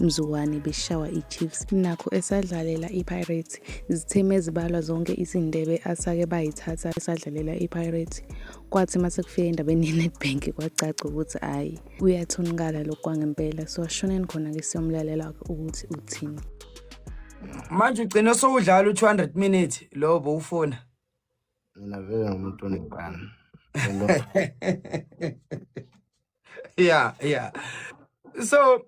mzukwane beshawa iChiefs nakho esadlalela iPirates izitheme ezibalwa zonke izindebe asake bayithatha esadlalela iPirates kwathi uma sekufika endabeni yeNedbank kwacaca ukuthi hhayi uyathonikala lokhu kwangempela so ashoneni khona-ke siyomlalela ukuthi uthini manje ugcine sowudlala u-two hundred minute lowo bowufuna mina vele ngumuntu onekani yeah yeah so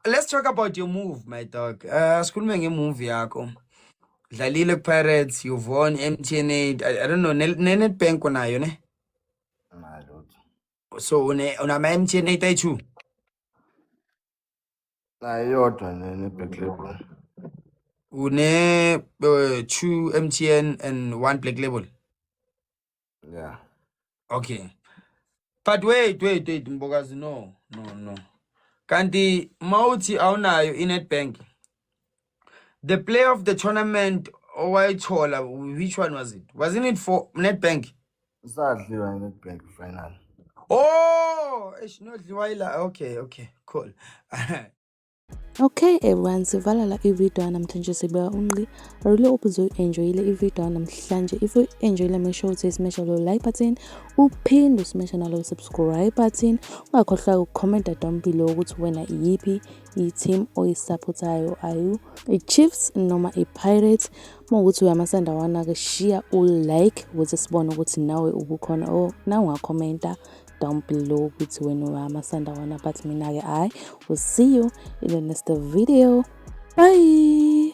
let's talk about your move my dog uh sikhulume ngemovie yakho dlalile kupirates you won mtn I, i don't know nenetbank unayo ne so unama-mtn eight i two nayodwa ne-black label une uh, two mtn and one black label yeah okay but wait wait wait mbokazi no no no kanti mawuthi awunayo inetbank the player of the tournament owayithola which one was it wasn't it for netbank sadliwa ngenetbank final oh eshinodliwa ila okay okay cool Okay everyone sivala la ivideo yanamhlanje sibeka unqi I really hope uzoyi-enjoyile ivideo yanamhlanje if uyi-enjoyile make sure ukuthi simesha lo like button uphinde usimesha nalo subscribe button ungakhohlwa ukukhomenta down below ukuthi wena iyiphi i-team oyisaphothayo ayu i-chiefs noma i-pirates uma ukuthi uyamasanda wana-ke shiya u-like ukuze sibone ukuthi nawe ubukhona or na ungakhomenta down below ukuthi wena uyamasanda wona but mina-ke hhayi will see you in the next video bye